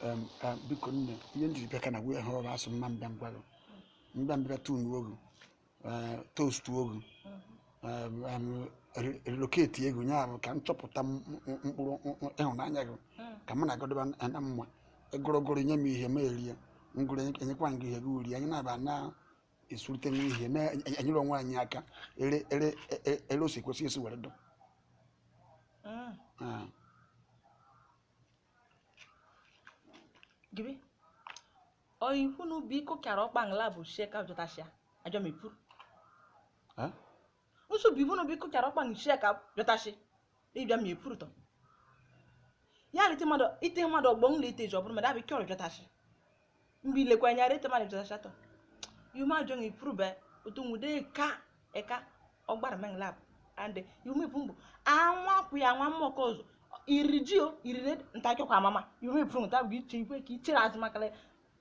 Em, em, biko nne ihe m jiri bịa ka na wee hụrụ asụ mma m bịa m gwa gụ m bịa m bịa tunuo gụ toastuo gụ relocatie gụ nye ahụ ka m chọpụta m- m- mkpụrụ m- m- ịhụnanya gị ka mụ na gụ dọba na mma egorogoro nye m ihe m erie ngụrụ enyekwa gị ihe gị eri anyị na-aba na esurute nwa ihe na-enyere onwe anyị aka ere ere e- ere o si kwesị esi were dụ Mm. Ah, Gibi. Oyi kwunu biko kara ọkpa ngla bụ shie ka jọtashia. Ajọ m ekwuru. eh? Usu bi bono bi kuchara ọkpa nchi ya ka bịọtachi ịbịa ma epurutọ. Ya lite mmadụ ite mmadụ ọgbọ nla ite ji ọ bụrụ mmadụ abịa ike ọrụ bịọtachi. Mgbe ilekwa anya rete mmadụ bịọtachi atọ. Yume ajọ na ipurube otu nwude ka eka ọgbara menglab and yume bụ mbụ anwa kwụ ya nwa mmụọ ka ọzọ iriji o irire ntakịkwa amama yume pụrụ nta bụ iche ikwe ka ichere azụ makala